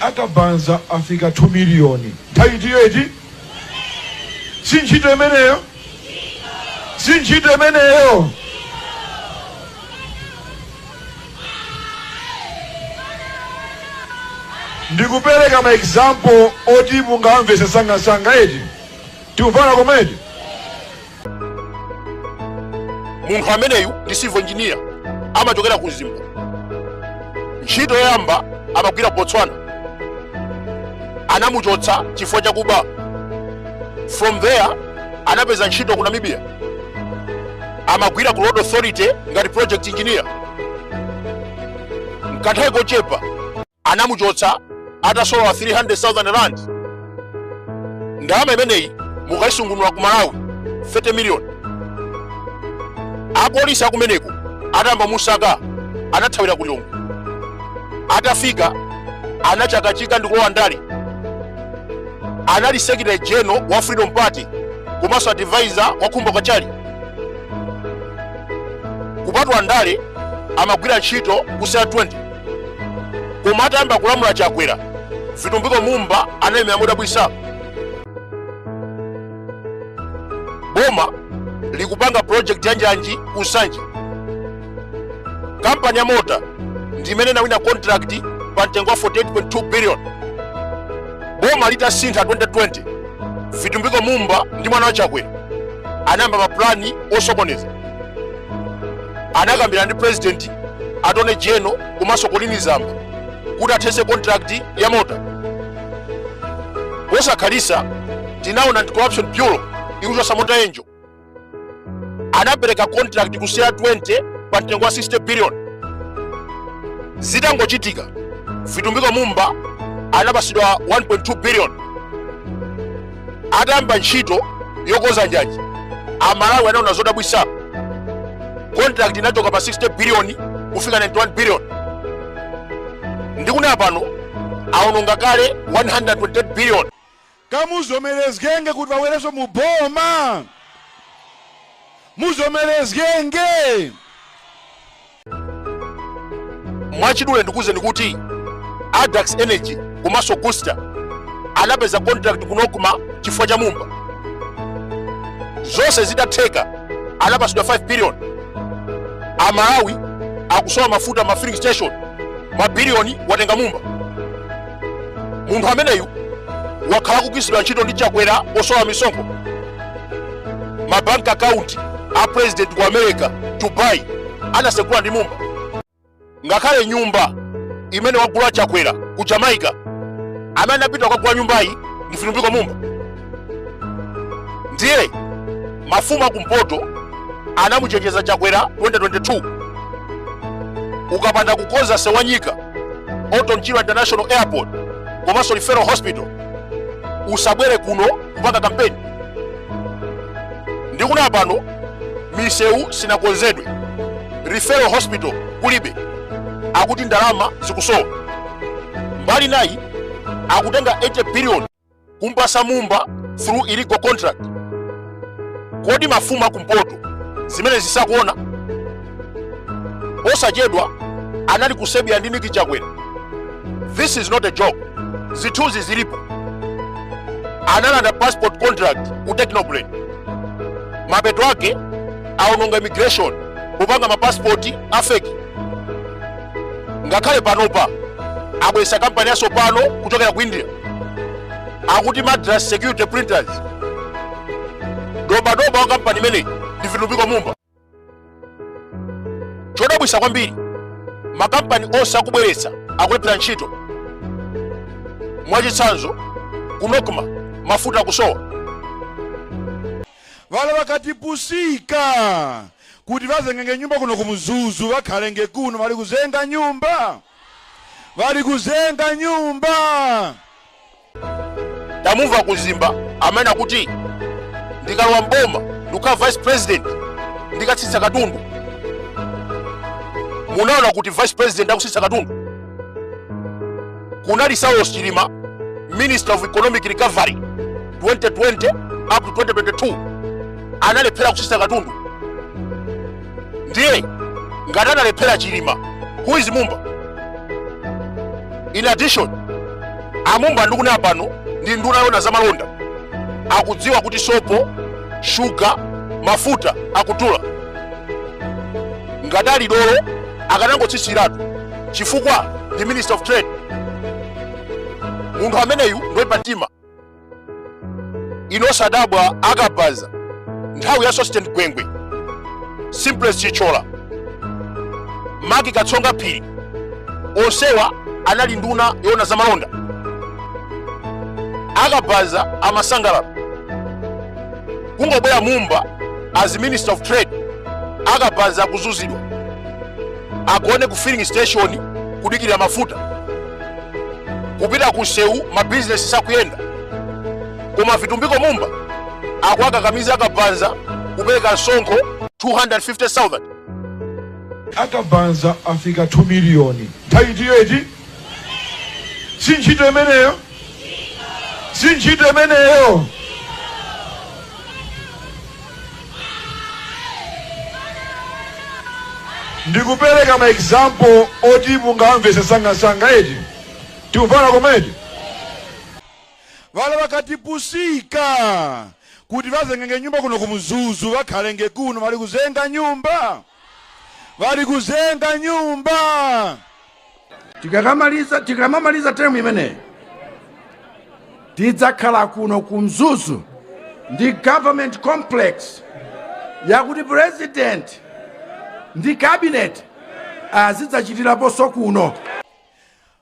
a Kabanza afika 2 million. Nthawi itiyo iti? Si ntchito imeneyo? Si ntchito imeneyo? ndikupereka ma example oti mungamvese sangasanga eti tikufuna komedi munthu ameneyu ndi civil engineer amachokera ku mzimba ntchito yoyamba amagwira ku botswana anamuchotsa chifukwa chakuba from there anapeza ntchito ku namibia amagwira ku road authority ngati project engineer mkanthawi kochepa anamuchotsa atasolola 300,000 rand ndalama imeneyi mukayisungunula ku malawi 30 million apolisi akumeneko atayamba musaka anathawira ku lilongwe atafika anachakachika ndi kulowa ndale anali secretary general wa freedom party komanso advisor wa khumbo kachali kupatula ndale amagwira ntchito ku CR20 koma atayamba kulamula chakwera vitumbiko mumba analemera modabwisa boma likupanga project ya njanji ku nsanje kampani ya mota ndi imene inawina contract pa mtengo wa 48.2 billion boma litasintha 2020 vitumbiko mumba ndi mwana wa chakwera anayamba mapulani osokoneza anakambirana ndi president attorney general komanso colleen zamba kuti athese contract ya mota posakhalisa tinaona anti corruption bureau ikuchosa mota engil anapereka contract ku CR20 pa mtengo wa 60 billion zitangochitika vitumbiko mumba anapasidwa 1.2 billion atayamba ntchito yokonza njanji amalawi anaona zodabwisa contract inachoka pa 60 billion kufika 91 billion ndikunena pano aononga kale 128 billion ka muzomerezgenge kuti wawereso mu boma muzomerezgenge mwachidule ndikuwuzeni kuti addax energy komanso augusta anapeza contract ku nocma chifukwa cha mumba zonse zitatheka anapasidwa 5 billion amalawi akusowa mafuta ma filling station mabiliyoni watenga mumba munthu ameneyu wakhala akugwiritsidwa ntchito ndi chakwera pozemba misonkho mabank account a president ku america Dubai anasegula ndi mumba ngakhale nyumba imene wagula chakwera ku jamaica amene anapita kukagula nyumbayi ndi Vitumbiko Mumba ndiye mafumu akumpoto anamuchenjeza Chakwera 2022 ukapanda kukonza msewu wa Nyika Orton Chirwa international airport komanso referral hospital usabwere kuno kupanga kampeni ndikunena pano misewu sinakonzedwe referral hospital kulibe akuti ndalama zikusowa mbali inayi akutenga 80 billion kumpasa mumba through illegal contract kodi mafumu akumpoto zimenezi sakuona posachedwa anali ku Serbia ndi Nick Chakwera this is not a joke zithunzi zilipo analanda passport contract ku Techno Brain mapeto ake aononga immigration kupanga mapasipoti afeki ngakhale panopa abweretsa kampani yatsopano kuchokera ku india akuti madras security printers dobadoba wa kampani imeneyi ndi vitumbiko mumba chodabwisa kwambiri makampani onse akubweretsa akulephera ntchito mwachitsanzo ku NOCMA mafuta akusowa Ŵala ŵakatipusika kuti bazengenge nyumba kuno ku Mzuzu bakhalenge kuno bali kuzenga nyumba bali kuzenga nyumba. Tamumva aku Mzimba amene akuti ndikalowa mboma ndikukhala vice president ndikatsitsa katundu. Munaona kuti vice president akutsitsa katundu? kunali saulos chilima minister of economic recovery 2020 up to 2022 analephera kutsitsa katundu ndiye ngati analephera chilima who is mumba in addition a Mumba ndikunena pano ndi nduna yoona za malonda akudziwa kuti sopo shuga mafuta akudula ngati ali dolo akanangotsitsiratu chifukwa ndi minister of trade munthu ameneyu ndoipa mtima inu osadabwa akabaza nthawi ya Sosten gwengwe Simplex Chithyola Mark Katsonga phiri onsewa anali nduna yoona za malonda akabaza amasangalala kungobwera mumba as minister of trade akabaza akuzunzidwa agone ku filling station kudikira mafuta kupita ku msewu mabizinesi sakuyenda koma a Vitumbiko Mumba akuwakakamiza akabaza kupereka msonkho 250,000 akabaza afika 2 miliyoni nthawi itiyo iti si ntchito imeneyo si ntchito imeneyo ndikupereka ma example oti mungamvese sangasanga eti tikufana komedi vale vakatipusika kuti vazengenge nyumba kuno kumuzuzu vakhalenge kuno vari kuzenga nyumba vari kuzenga nyumba tikakamaliza tikamamaliza term imeneyi tidzakhala kuno ku mzuzu ndi government complex yakuti president ndi cabinet azidzachitiraponso kuno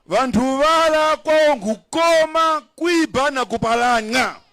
vanthu vala kwawo nkukoma kwiba na kupalana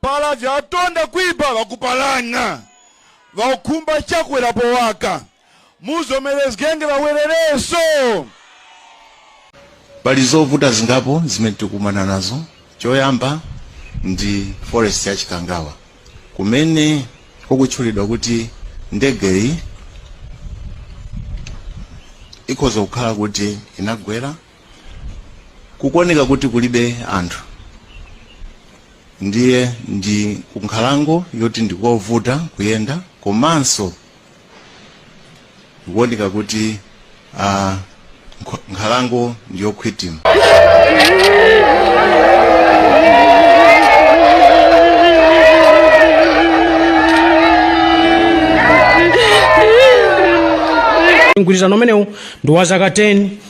Pala vyatonda kwiba vakupalana, vaukhumba Chakwera powaka, muzomelezgenge vawerereso. Pali zovuta zingapo zimene tikukumana nazo. Choyamba ndi forest ya Chikangawa kumene kukutchulidwa kuti ndegeyi ikhoza kukhala kuti inagwera kukuoneka kuti kulibe anthu ndiye ndi kunkhalango yoti ndikovuta kuyenda komanso kukuoneka kuti ah, nkho- nkhalango ndiyokhwitima mgwirizano umenewu ndi wa zaka 10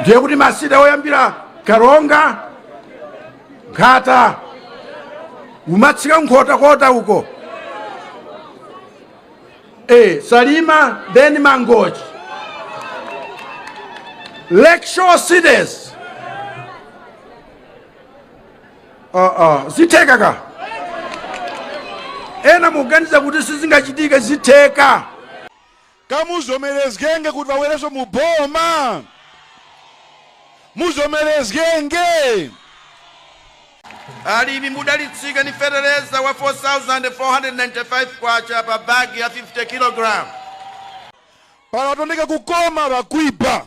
ndiye kuti ma city oyambira Karonga Nkhata kumatsika nkhotakota uko e, salima then mangochi lakeshore cities uh, uh, zitheka kaya ena muganiza kuti sizingachitike zitheka Ka muzomelezgenge kuti vawereso mu boma muzomelezgenge. Alimi mudalitsika ndi feteleza wa K4495 pa bag ya 50 kilogalamu. Pala atondeka kukoma vakwiba.